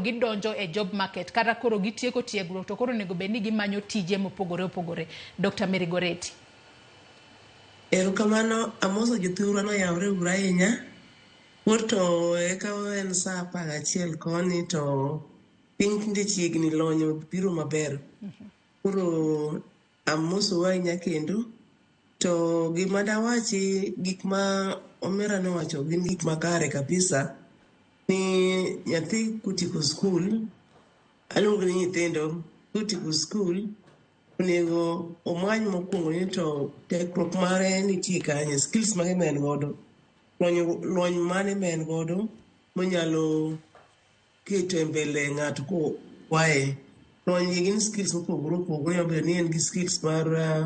gidonjo e job market kata koro gitieko tiegruok to koro onego bed ni gimanyo tije mopogore opogore. Dr. Mary Goreti. Erokamano, amoso jothurwa noyawre uru ahinya. Koro to eka en saa apar gachiel koni to piny tinde chiegni lony biro maber. Koro Amosou ahinya kendo. To gima dawachi gik ma Omera nowacho gin gik makare kabisa ni nyathi kutieko skul, aluongo ni nyithindo kutieko skul onego omany mokwongo ni to tekruok mare nitie kanye, skills mage ma en godo, lony lony mane ma en godo monyalo Kete mbele ng'ato ko kwaye kony gi gin skills mopogore opogore nyalo bedo ni en gi skills mar uh,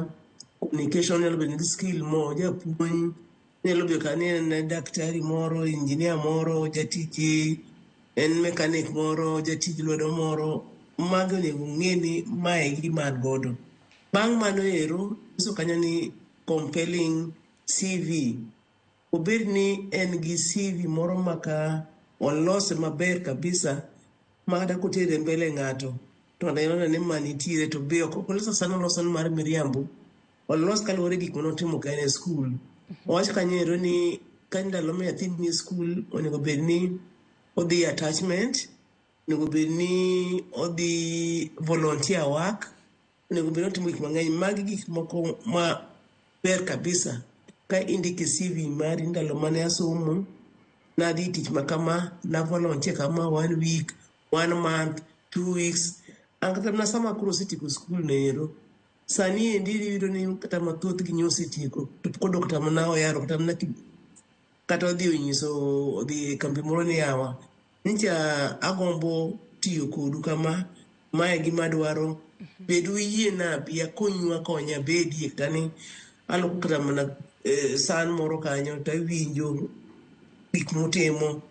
communication nyalo bedo gi skill mo japuonj nyalo bedo ka ni en daktari moro injinia moro jatich en mekanik moro jatij lwedo moro magi onego ng'e ni mae gima an godo bang' mano ero nyiso kanyo ni compelling cv Obed ni en gi CV moro ma ka walose maber kabisa ma kata kotere mbele ng'ato to nenone ni ma nitiere to be ok olos asana oloso ni mar miriambo. Olos kaluwore gik mane otimo ka en e skul. Owach kanyo ero ni ka ndalo ma nyathi ni e skul onego bed ni odhi e attachment, onego bed ni odhi volunteer work. onego bed otimo gik mang'eny magi gik moko ma ber kabisa ka indike cv mari ndalo mane asomo nadhi tich ma kama navolontie kama one week one month two weeks an kata mana sama koro osetieko skul noero sani endi iyudo ni kata mathoth gi nyosetieko to pok odok kata mana oyaro kata mana kata odhi onyiso odhi e kambi moro ni yawa Nyicha agombo tiyo kodu kama, ma e gima adwaro. Bed uyie na abi akonyu akonya abedie kani aloko kata mana eh, san moro kanyo to awinjo gik mutimo.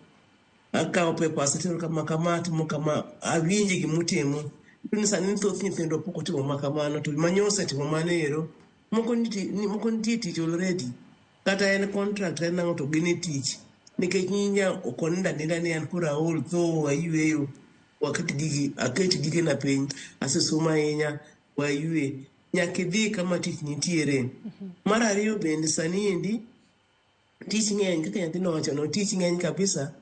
Akawo papers atero kama kama atimo kama awinje gima utimo. Iyudo ni sani thoth nyithindo pok otimo ma kamano to manyo osetimo mano ero. Moko nitie ni- moko nitie tich already. kata en contract en ang'o to gin e tich nikech nyinya ok onindo aninda ni an koro aol tho ayueyo waket gigi aket gigena piny asesomo ahinya wayue nyaka idhi kama tich nitiere mar ariyo bende sani endi tich ng'eny kaka nyathi nowachono tich ng'eny kabisa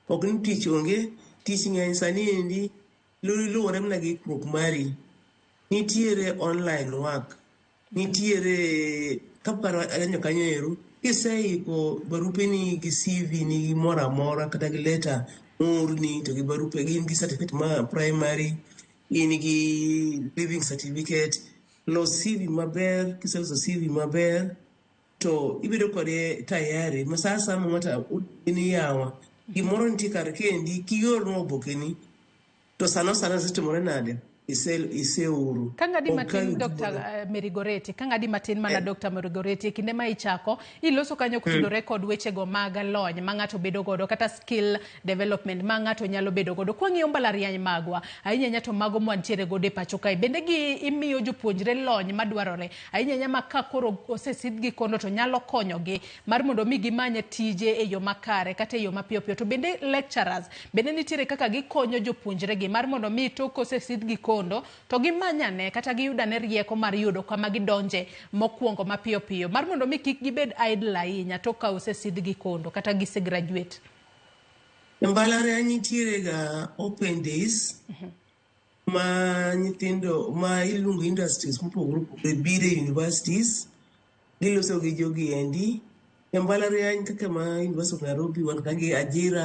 ok ni tich onge tich ng'eny sani endi lu- luwore mana gi ikruok mari nitiere online work Nitiere kaparo anyo kanyo ero kiseiko barupeni gi CV ni gi moro amora kata gi leta moorni to gi barupe gin gi certificate ma primary in gi living certificate los CV maber kiseloso CV maber to ibedo kode tayari ma sa asaya ma ng'ato in yawa gimoro nitie kar kendi kiorno obokeni To sano sano zitimore nade? iseuru. Ka ng'adi matin Dr. Eh, Mary Goreti, ka ng'adi matin mana eh. Dr. Mary Goreti, e kinde ma ichako, iloso kanyo hmm. kutudore kod wechego mag lony ma ng'ato bedo godo kata skill development ma ng'ato nyalo bedo godo. Kwa ng'iyo mbalariany magwa, ahinya ahinya to mago mwantiere godo e pacho kae, bende gi imiyo jopuonjre lony madwarore, ahinya ahinya ma ka koro osesidhgi kono to nyalo konyogi mar mondo mi gimanye tije e yo makare kata e yo mapiyo piyo to bende lecturers bende nitiere kaka gikonyo jopuonjregi mar mondo mi tok kosesidhgi kondo to gimanyane kata giyudane rieko mar yudo kama gidonje mokwongo mapiyo piyo mar mondo mi kik gibed idle ahinya tok ka osesidhgi kondo kata gise graduate E mbalariany nitiere ga open days ma nyithindo ma iluongo industries mopogore opogore biro e universities giloso gi jogi endi e mbalariany kaka ma University of Nairobi wan ka gi ajira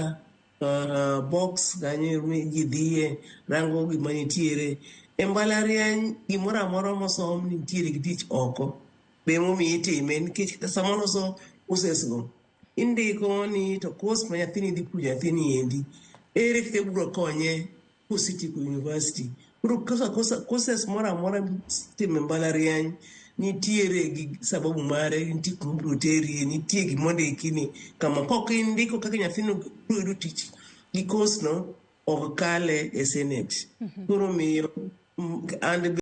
uh, box kanyo ma ji dhiye rango gima nitiere e mbalariany gimoro amora mosom nitiere gi tich oko be momiyo itime nikech sama loso courses go indiko ni to course ma nyathini dhi puonjo nyathini endi ere kaka ibiro konye City University. Koro kosa kosa courses moro amora mitimo e mbalariany nitiere gi sababu mare, nitie kuma ibiro terie, nitie gima ondiki ni kama kaok indiko kaka nyathino biro yudo tich gi course no ok kale e senate. Koro omiyo mm, and